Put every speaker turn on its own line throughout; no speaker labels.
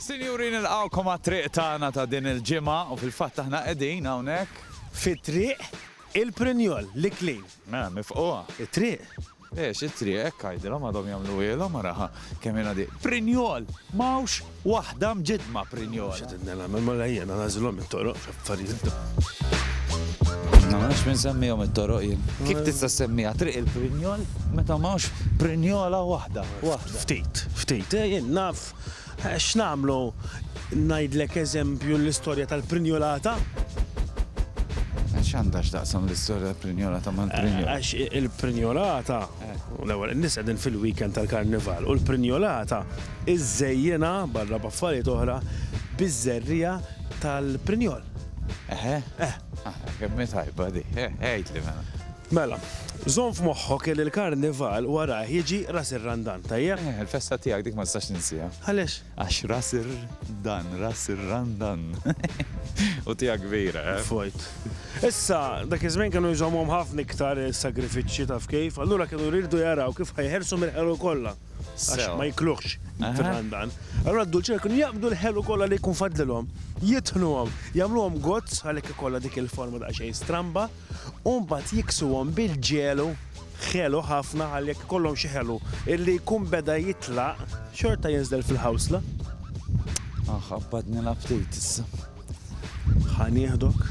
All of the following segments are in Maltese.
Sinjuri nilqgħukom għat-triq tagħna ta' din il-ġimgħa u fil-fatt aħna qegħdin hawnhekk. Fi Triq il-Prinjol, l-Iklin. Mela mifquha. It-triq? Le, x'it-triq, hekk għidilhom għadhom jagħmluhielhom araha kemm hi nadifa. Prinjol! M'hawnx waħda mġiddma Prinjol. X'qed ngħid nagħmel, mela ejja nagħżilhom it-toroq. Affarijiet. Ma nafx min semmihom it-toroq jien. Kif tista' ssemmiha Triq il-Prinjol meta m'hawnx prinjola waħda? Ftit, ftit. Jien naf x'nagħmlu ngħidlek eżempju l-istorja tal-prinjolata. X'għandha x'taqsam l-istorja tal-prinjolata mal-prinjol? Għax il-prinjolata U l-ewwel, in-nies qegħdin fil-weekend tal-Karnival u l-Prinjolata żżejjinha, barra b'affarijiet oħra, biż-żerriegħa tal-prinjol. Eħe? Eh. Aha, kemm hi tajba di. Eh, għidli mela. Mela, żomm f'moħħok li l-Karnival warajh jiġi Ras ir-Randan, tajjeb? Eh, il-festa tiegħek dik ma nistax ninsiha. Għaliex? Għax ras ir, dan, ras ir, ran, dan. U tiegħek kbira, eh? Fojt. Issa, dak iż-żmien kienu jżommhom ħafna iktar is-sagrifiċċji taf kif, allura kienu jridu jaraw kif ħa jeħelsu mill-ħelu kollha. Għax ma jikluhx it-tran dan. Allura d-dulċera kienu jaqbdu l-ħelu kollha li jkun fadlilhom, jitħnuhom, jagħmluhom gozz, għalhekk ikollha dik il-forma daqsxejn stramba. u mbagħad jiksuhom bil-ġelu ħelu ħafna ħalli jekk ikollhom xi ħelu illi jkun beda jitlaq xorta jinżel fil-ħawsla. Aħ, qabbad nilgħab ftit issa. Ħa nieħdok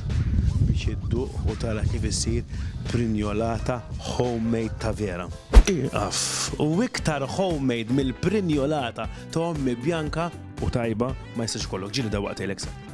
biex idduq u tara kif issir prinjolata homemade ta' vera. Ieqaf! U iktar homemade mill-prinjolata ta' ommi bjanka u tajba ma jistax ikollok. Ġieli dawwaqtejlek sew.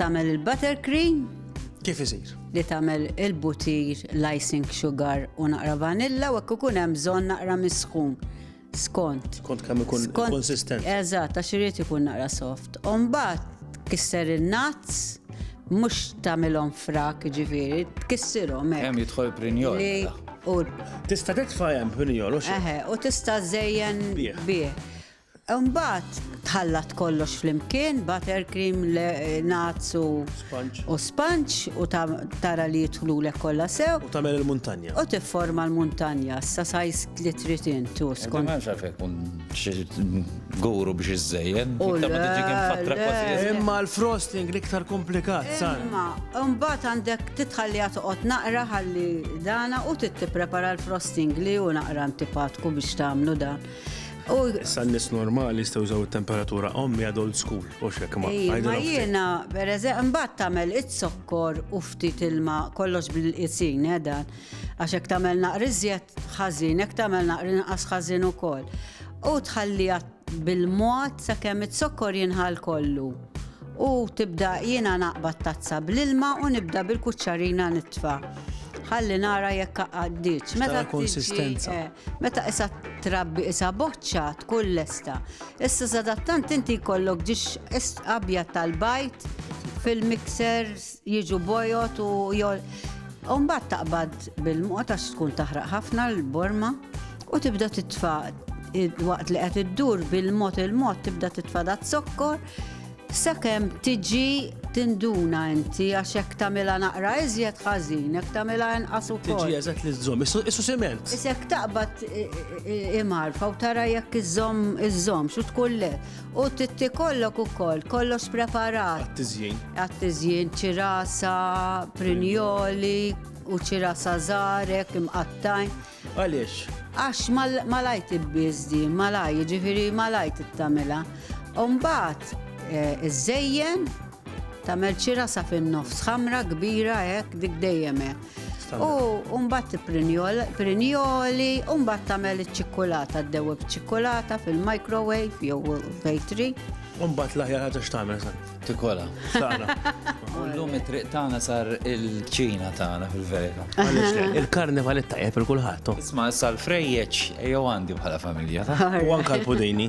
Tagħmel il-buttercream. Kif isir? Li tagħmel il-butir, l-icing sugar u naqra vanilla u hekk ikun hemm bżonn naqra misħun. Skont. Skont kemm ikun konsistent. Eżatt, għax irid ikun naqra soft. U mbagħad kisser in-nuts mhux tagħmilhom frak ġifieri, tkissirhom hekk. Hemm jidħol prinjol. Mela. Tista' titfa' hemm prinjol u xi. Eħe, u tista' żejjen bih. Imbagħad tħallat kollox flimkien, butter cream, nuts u sponge u tara li jidħlulek kollha sew. U tagħmel il-muntanja. U tifforma l-muntanja sa size li trid intu skont. Ma nafx hekk kun xi guru biex iżżejjen. U ta' ma tiġi kemm fatra kważi. Imma l-frosting l-iktar komplikat, sar. Imma imbagħad għandek titħalliha toqgħod naqra ħalli dana u tittiprepara l-frosting li hu naqra antipatku biex tagħmlu dan. Issa n-nies normali jistgħu jużaw it-temperatura ommi għad old school, u xek ma. Ma jiena, per eżempju, mbagħad tagħmel it-sokkor u ftit ilma kollox bil-qisin eh, dan. Għax hekk tagħmel naqri żjed ħażin, hekk tagħmel naqri nqas ħażin ukoll. U tħallija bil-mod sakemm it-sokkor jinħal kollu. U tibda jiena naqbad tazza bl-ilma u nibda bil-kuċċarina nitfa' ħalli nara jekk għaddiċ. Meta konsistenza. Eh, Meta qisha trabbi qisha boċċa tkun lesta. Issa sadattant inti jkollok ġiex abjad tal-bajt fil-mixer jiġu bojot u jol. Umbat taqbad bil-mod għax tkun taħraq ħafna l-borma u tibda titfa waqt li qed iddur bil-mod il-mod tibda titfa dat zokkor Sakemm tiġi tinduna inti għax hekk tagħmilha naqra iżjed ħażin, hekk tagħmilha inqas ukoll. Tiġi eżatt li żżomm, issu siment. Isek taqbad imarfa u tara jekk iżżomm iżżomm xu tkun le. U titti kollok ukoll, kollox preparat. Għat-tiżjin. Għat-tiżjin ċirasa, prinjoli, u ċira sazarek, imqattajn. Għaliex? Għax malajr tibbiż di, malajr, jiġifieri malajr tittamilha. U mbagħad eh, iżżejjen tagħmel xi rasa fin-nofs ħamra kbira hekk dik dejjem hekk. U mbagħad prinjoli, u mbagħad tagħmel iċ-ċikkulata, ddewweb ċikkulata fil-microwave jew fejtri. U mbagħad l-aħjar ħaġa x'tagħmel Tikola. Ullum it-triq tagħna sar il-ċina tagħna fil-verita. Il-karnival it-tajjeb il kulħadd. Oh. Isma' issa l-frejjeċ jew għandi bħala familja. U anka l-pudini.